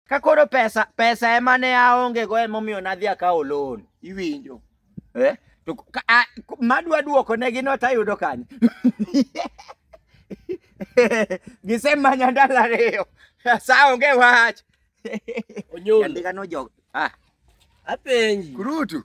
Ka koro pesa pesa ema ne aonge go ema omiyo nadhi akawo loan. Iwinjo. Eh? To ka- a- k- madwa duoko ne gi not ayudo kanye. Gisemanya ndalo ariyo. Sa onge wach. Onyolo. Andika no jog. Ah, Apenji. kurutu.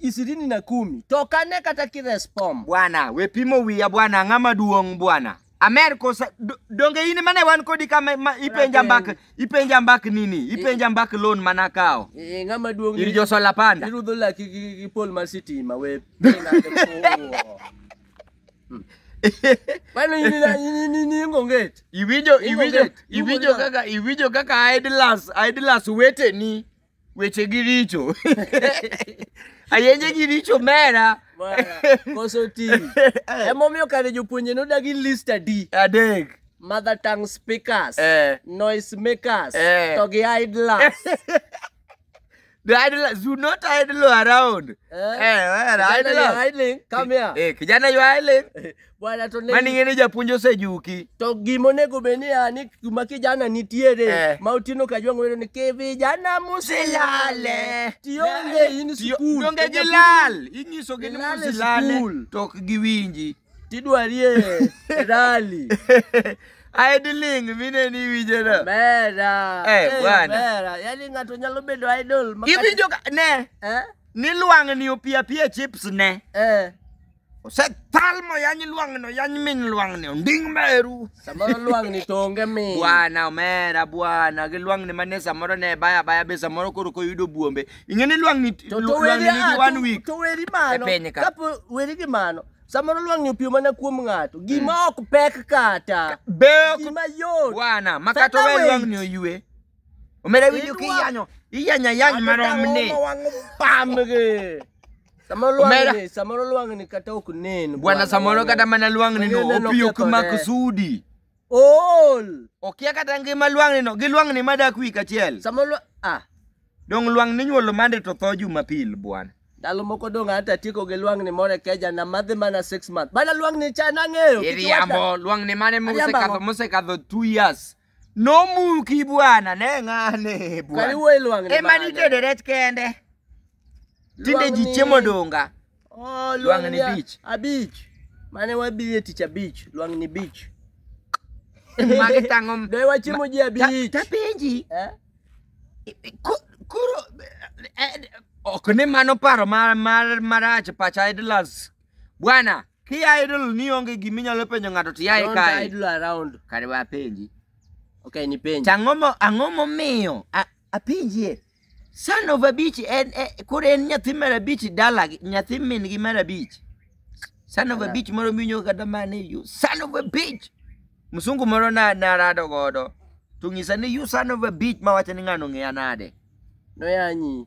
ishirini na kumi tokane kata kirespom bwana we pimo wiya bwana ang'a maduong' bwana amer kosa do- donge in mane wan kodi kama ma, ipenja mbak ipenja mbak nini ipenja mbak loan mana kawo Eh, ng'ama duong' ir josola panda irudho laki gi gi pol mar sitima we mano ining'onget iwinjo Ingo iwinjo get, ingo iwinjo get. kaka iwinjo kaka idlas idlas weteni weche gi richo ayenje gi richo mera Mara, koso ti emomiyo kare jopuonje nodagi list adi adek mother tongue speakers Eh. noise makers Eh. to gi idlers The idle, do not idle around. Eh. Eh, where are idling idling? idling come here Eh, kijana you are idling. Bwana to ne- Mani ng'e ni japuonj osejuki. to gima onego bed ni a ni kuma kijana nitiere Eh. ma otieno ka jwang' wero ni ki vijana musilale tionge in Tiyo- skul Donge to gilal. Inyisogi ni Gilal e musilale skul. to ok giwinji. tidwarie rali Idling mine ni winjeno. mera Eh, Eh, bwana. mera yani ng'ato nyalo bedo idol ma kata- Iwinjo ka ne eh ni lwang'ni opiapia chips ne. eh osethalmo yany lwang'no yany min lwang'ni onding meru samoro lwang'ni to onge min bwana omera bwana gi lwang'ni mane samoro ne baya baya be samoro koro koyudo buombe ing'e ni lwang'ni lwang'ni nigi one week to weri mano e kapo weri gi mano samoro lwang'ni opio mana kuom ng'ato gima mm. ok pek kata be gima yot bwana ma kata owe lwang'ni oyue omera winjo kiyanyo iyanya yany maromni pamge Samoro lwang' Omera. ni, samoro lwang' ni kata ok nen. bwana samoro kata mana lwang'ni no Mang'e ne opiyo kuma nokethore. kusudi Ool. okia kata ngima lwang'ni no gi lwang'ni madak wik achiel Samoro lwa- ah, dong' lwang'ni nyuolo mande to tho jumapil bwana ndalo moko dong' ata tieko gi lwang' ni moro e keja na madhi mana six months. Bana lwang' ni cha nang'eyo. kik iwata. iriambo lwang'ni mane Ariambo mosekadho ang'o? mosekadho two years Nomuki bwana ne ng'ane Kari bwana. wuoyi lwang' ni Ema bade. nitede rech kende. Tinde Lwang' ji ni- chiemo donga. Oh, Lwang' lwang' ni ni a- beach. abich. Mane wabire tich abich, lwang' ni beach. Magi tang'o. Be wachiemo ji Ta- abich. Tapenji. Eh? Ko- Koro eh, ok ni mano paro mar mar marach pacha idlas Bwana, ki idle ni onge gima inyalo penjo ng'ato to yaye Don't kae. idle around. Kare wa penji. Okay, ni penjo. Ang'o mo ang'o momiyo a- apenjie? Son of a bitch en e- koro en nyathi mar abich dala gi- nyathi min gi mar abich. Son of a Ala. bitch moro miwinjo kata mane you son of a bitch. Msungu moro na na rado godo. To ng'isa ni you son of a bitch ma wacho ni ng'ano ng'eya nade. Noyanyi.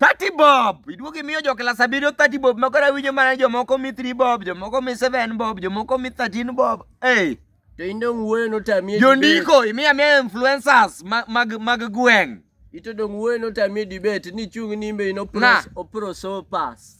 30 bob iduogo imiyo jo klas abiriyo 30 bob makoro awinjo mana jomoko mi 3 bob jomoko mi 7 bob jomoko mi 13 bob hey. to in dong' wuoyo notamie jondiko imiya miya influencers ma- mag mag gweng' ito dong' wuoyo notamie dibet ni chung' nimbe in Na. opros- oprosopas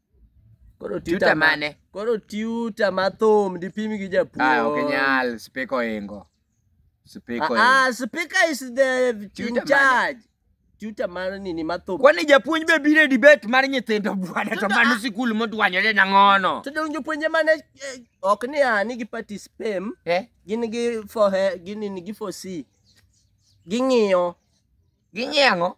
Koro Tuta tuta ma- mane? Koro tuta ma thum dipim gi japuo. Ah, ok nyal, speaker oingo. Speaker oingo. Ah, ah, speaker is the Tuta in mane? charge. Tuta mar nini ma thum. Kwani japuonj be biro e debate mar nyithindo bwana to mano sikul modwanyore nang'ono. To dong jopuonje mane eh, ok ni a ni gi participate Eh? gin gi for he- gin ni gi for C. Ging'iyo Ging'iyo ang'o?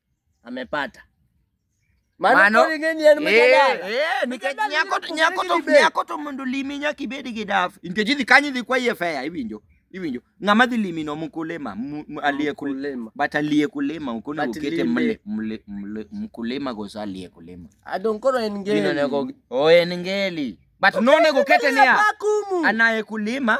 Amepata. Mano, Mano- koro ing'e ni en Eh, mjadala. eh, nikech Mjadala nyako to- inapopogore nyako to- gi debate. nyako to mondo limi nyaka ibed gi daf nikech idhi kanyo idhi kwaye fea iwinjo iwinjo ng'ama dhi limi no mkulima mu- mu- aliye kul- Mkulima. but aliye kulima ok onego But okete lime. mle- mle- mle- mkulima goso aliye kulima Adong koro en ngeli. Gino onego- o en ngeli but nonego okete niya Hapa kumu. anaye kulima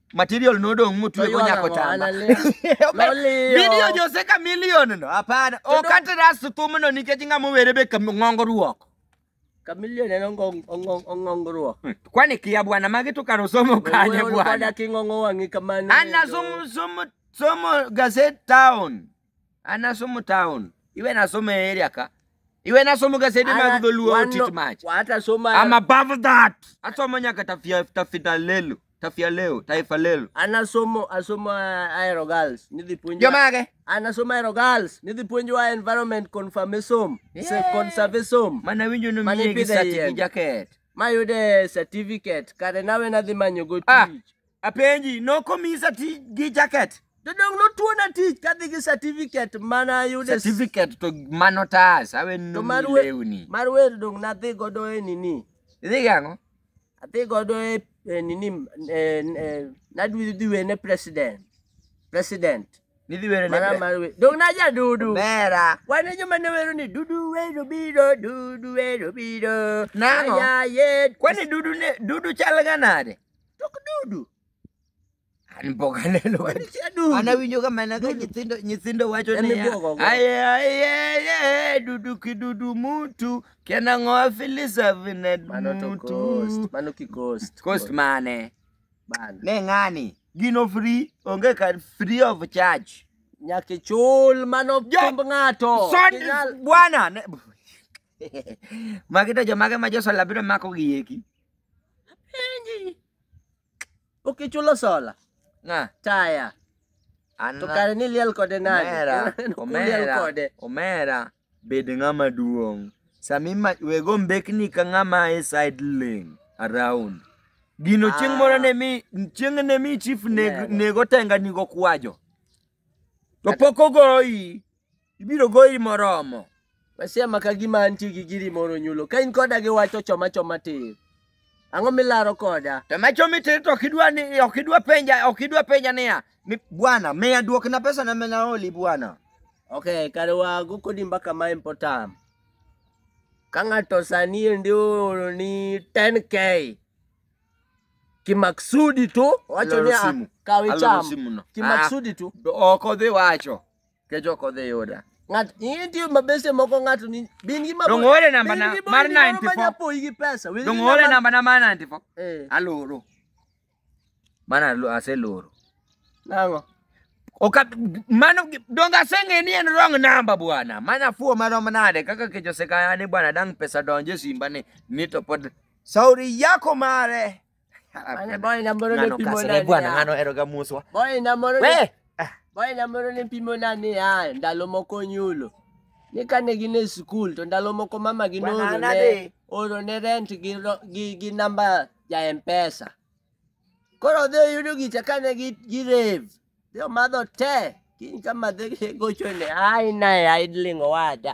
material nodong' motwego Oywaga nyako mo, chama analia. Noliyo. video jose kamilion no hapana ok atras thumno nikech ng'ama owere be kam- ng'ongo ruoko Kamilio neno ngong- ongong- ongongruok. kwani kia bwana magi to kar osomo kanye Wewe bwana unakwenda king'ong'o wang'i kamano. Anna somo somo somo gazette town. An asomo town. Iwe nasomo e area ka. Iwe nasomo gasede mag dholuo Wan- otit mach. wata soma I'm above that. Asomo nyaka tafia tafita lelo. Tafia leo, taifa lelo. an asomo asomo aero girls nidhi puonjwa Jomage. an asomo aero girls nidhi puonjwa environment conformism se Yeah. conservism Mana winjo no Mane miye gi ipidhe sati yien. gi jacket. mayude certificate kare nawe nadhi manyogo Ah. tich Apenji, nokomisa tich gi jacket? Jodong notuona tich kadhi gi certificate mana ayude. Certificate to mano tas, awe no lewni. Mar wer dong nadhi godo e nini. Idhi gi ang'o? Adhi godo e, e nini, e, e, nadwi dhi wene president. President. Nidhi wero ne Mana mar wero. Dong na ja dudu. Bera. Wan e joma ne wero ni dudu wero biro, dudu wero biro. Nango. Aya ye. Kwani dudu ne, dudu chal ga nade? Tok dudu. An pok aneno ka- Wadichia dudu. an awinjo ka mana ka nyithindo nyithindo wacho Emi niya bwogo go. aye aye aye dudu kidudu mutu kenang'o afilisa vine Mano to mutu coast. Mano ki coast. cost mane Bana. ne ng'ani gino free onge kar free of charge Nyaka ichul mano Jo- pemb ng'ato. Son- Inyal- bwana ne- magita jomage ma josala biro mako gi eki Apenji. Ok ichulo sola. Nga. Taya. An To kare ni liel kode nani? omera, Liel omera, kode. omera, bed ng'ama duong'. Sami ma wego mbekni ka ng'ama e side lane around. Gino chieng' Ah. moro ne mi chieng' ne mi chief neg, Nyago. nego tenga nigo kwajo. To pok ogoyi. Ibiro goyi moromo. Masia ma ka gima antie gi giri moro nyulo. Ka in koda gi wach to choma choma tir. Ang'o milaro koda? To ma chomi tir to ok idwa ni ok idwa penja ok idwa penja niya. Ni bwana miya duokna pesa na mena oli bwana. Okay, kare wago kodi mbaka ma important. Ka ng'ato sani endi ooro ni 10k kimaksudi tu wacho Loro niya simu. kaw Aloro icham simuno. kimaksudi tu Be Ok odhi wacho. kech ok odhi yuda ng'at intie mabese moko ng'ato ni bin gi Donge oore namba na- mar 94? mapoyi gi pesa Wil gi Donge oore namba na mar 94? eh Aloro. Mano alo- aseloro. nango Oka, mano donge aseng'e ni en wrong number bwana. Mano afuwo marom nade kaka kech osekaya ni bwana dang' pesa donje simba ni ni to pod Sauri yako mare. Mane boy na moro ne pimo na. Ne bwana ngano ero ga muswa. Boy na moro. We. Ah. Boy na moro ne pimo na ni ya ndalo moko nyulo. Ni kane gin e skul to ndalo moko mama gi noro ne oro ne rent gi gi, gi namba ja M-Pesa. Koro dhi oyudo gicha kane gi gi rave. Dhi omadho te. Kiny ka madhe gocho ne ai nae idling owada.